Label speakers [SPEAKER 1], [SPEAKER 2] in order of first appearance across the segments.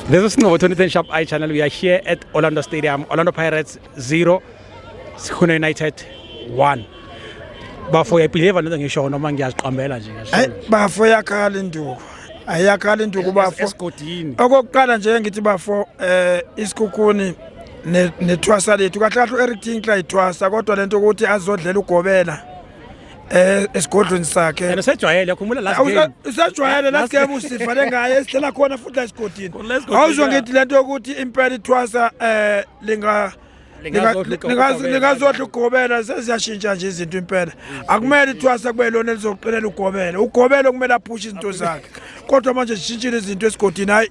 [SPEAKER 1] This is Snovo 2010 Sharp Eye Channel. We are here at Orlando Stadium. Orlando Pirates 0, Sikhona United 1. Bafo uyayibhileva lento ngisho noma ngiyaziqambela nje ngisho. Hey bafo yakhala
[SPEAKER 2] induku. Ayakhala induku bafo. Esigodini. Okokuqala
[SPEAKER 1] nje ngithi
[SPEAKER 2] bafo eh isikhukhuni nethwasa lethu kahle kahle uEric Tinkler ithwasa kodwa lento ukuthi azodlela ugobela. eh esigodlweni sakhe and usejwayele yakhumula
[SPEAKER 1] last game usejwayele last game
[SPEAKER 2] usifane ngaye esidlela khona futhi la esigodini awuzwa ngithi lento yokuthi impela ithwasa eh linga lingazodla ugobela seziyashintsha nje izinto impela akumele ithwasa kube lona elizoqinela ugobela ugobela okumele aphushe izinto zakhe kodwa manje zishintshile izinto esigodini hayi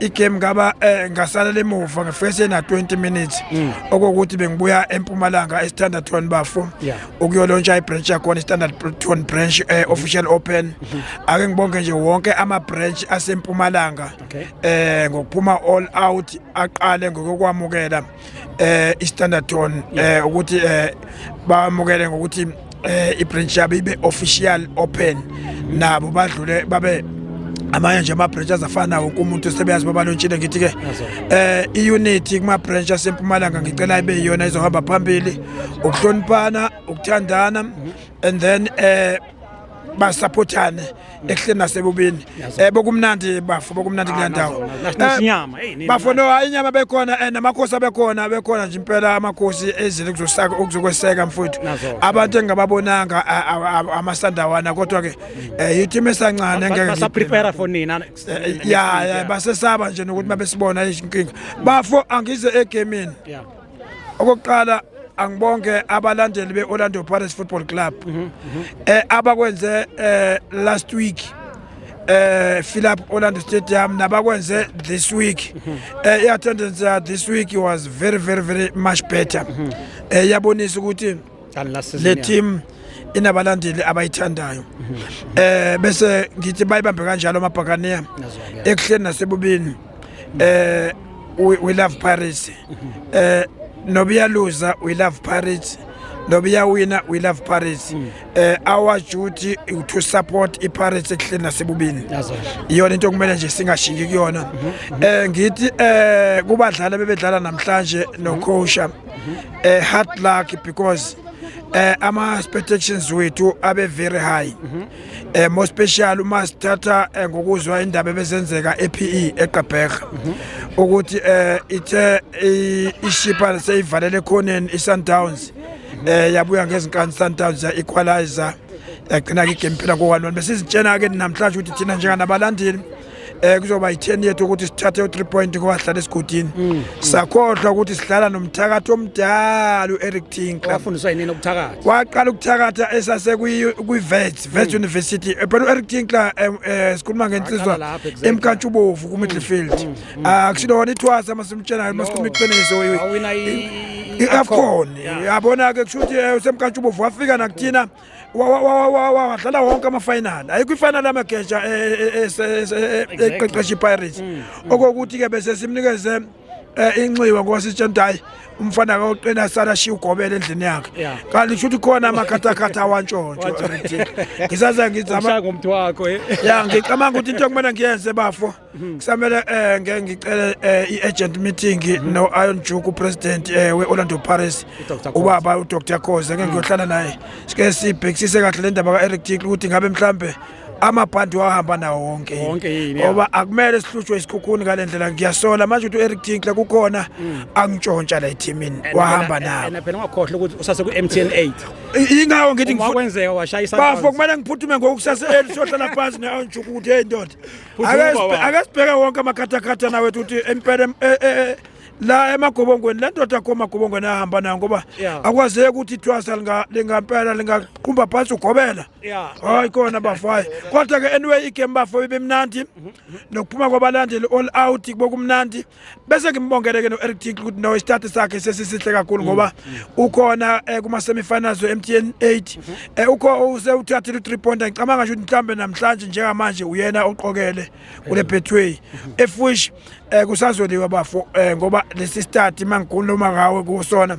[SPEAKER 2] igame ngaba eh, ngasalela emuva ngefese na 20 minutes mm. okokuthi bengibuya empumalanga estandard ton bafo ukuyolontsha ibranch yakhona istandard ton branch eh, mm-hmm. official open mm-hmm. ake ngibonke nje wonke ama branch asempumalanga eh ngokuphuma all out aqale ngokukwamukela eh iStandard Ton eh ukuthi eh bamukele ngokuthi eh ibranch yabo ibe official open nabo badlule babe amanye nje ama-branch azafana wonke umuntu sebeyazi babalontshile ngithi-ke eh i-unity kuma-branch asempumalanga ngicela ibe yiyona izohamba phambili ukuhloniphana ukuthandana and then eh basaphothane ekuhleni nasebubini eh bokumnandi bafo bokumnandi ah, kule ndawo eh, bafo no hayi inyama bekhona and eh, amakhosi abekhona bekhona nje impela amakhosi ezile kuzosaka ukuzokweseka mfowethu abantu engababonanga amasandawana kodwa ke eh, yithima esancane ngeke basa prepare for nina
[SPEAKER 1] ya ya
[SPEAKER 2] basesaba nje nokuthi mabesibona inkinga bafo angize egamini okokuqala angibonke abalandeli be-orlando pirates football club um mhm, mhm. eh, abakwenze um last week eh Philip Orlando Stadium nabakwenze this week mhm. eh i attendance uh, this week was very very very much better eh yabonisa ukuthi le team inabalandeli abayithandayo eh bese ngithi bayibambe kanjalo amabhakaniya ekuhleni nasebubini eh we love paris eh nobiyaluza we love paris nobiyawina we love paris mm. eh our duty to support iparis ekuhleni nasebubini iyona into okumele nje singashingi kuyona mm-hmm, mm-hmm. eh ngithi eh kubadlali bebedlala namhlanje mm-hmm. nokhosha a eh, hard luck because eh ama expectations wethu abe very high eh more special uma sithatha eh, ngokuzwa indaba ebezenzeka ePE eGqeberha ukuthi eh ithe ishipa seyivalele khoneni iSundowns eh yabuya ngezinkani Sundowns ya equalizer yagcina ke game phela ko 1 besizitshena ke namhlanje ukuthi thina njenganabalandeli eh kuzoba i-10 yethu ukuthi sithathe u-3 point kwahlala esigodini mm. sakhohlwa ukuthi sidlala nomthakathi omdala u-Eric Tinkler wafundiswa yini ukuthakatha
[SPEAKER 1] waqala ukuthakatha
[SPEAKER 2] esase kwi-Vets Vets mm. University eh, phela u-Eric Tinkler eh, eh, sikhuluma ngensizwa emkantshubovu ku-midfield mm, akusilo ah, wona ithwasa masimtshela masikhuluma iqiniso i-Afcon yabona-ke kusho ukuthi usemkantshubovu wafika nakuthina wadlala wonke amafinali ayikho ifinali amageja eqeqesha ipirates okokuthi-ke bese simnikeze Eh, inxiwe ngoba sitshe nto hayi umfana kaoqina sala shiya ugobele endlini yakhe kanti kusho ukuthi khona amakhathakhatha awantshontsho ngisaze ngizama ngomntu wakho eh.
[SPEAKER 1] ya ngicabanga
[SPEAKER 2] ukuthi into okumele ngiyenze bafo Hmm. kusamele um ngeke ngicele um i-agent meeting hmm. no-iron juke upresident um eh, we-orlando paris ubaba udr khoze ngeke ngiyohlala naye sike sibhekisise kahle le ndaba ka-eric tikl ukuthi ngabe mhlawumbe amabhandi wahamba nawo wonke ngoba akumele sihlutshwe isikhukhuni ngale ndlela ngiyasola manje ukuthi u-eric tinkler kukhona mm. angitshontsha la ethimini wahamba nawo
[SPEAKER 1] phela ungakhohlwa ukuthi
[SPEAKER 2] usase ku-mtn 8 ingawo ngithi
[SPEAKER 1] bafo kumele ngiphuthume
[SPEAKER 2] ngokusase eli sohlala phansi ne-anjuku ukuthi heyi ndoda akasibheke wonke amakhathakhatha nawe ukuthi empela eh, eh, eh, la emagobongweni le ndoda kho magobongweni ahamba nayo ngoba akwazeki ukuthi
[SPEAKER 1] ithwasa
[SPEAKER 2] lingampela lingaqumba phansi ugobela hayi kona
[SPEAKER 1] bafayo
[SPEAKER 2] kodwa-ke anyway igame bafo ibimnandi mhm, mhm. nokuphuma kwabalandeli all out kubokumnandi bese ngimbongele ke no-eric tinkle ukuthi no isitati sakhe sesisihle kakhulu mm, ngoba mm. ukhona um kuma-semifinals we-m t n eight um mm-hmm. ukho usewuthathile u-three pointer ngicabanga nje ukuthi mhlawumbe namhlanje njengamanje uyena oqokele kule mm-hmm. betway mm-hmm. efush um kusazoliwa bafo um ngoba lesi stati uma ngikhuluma ngawe kusona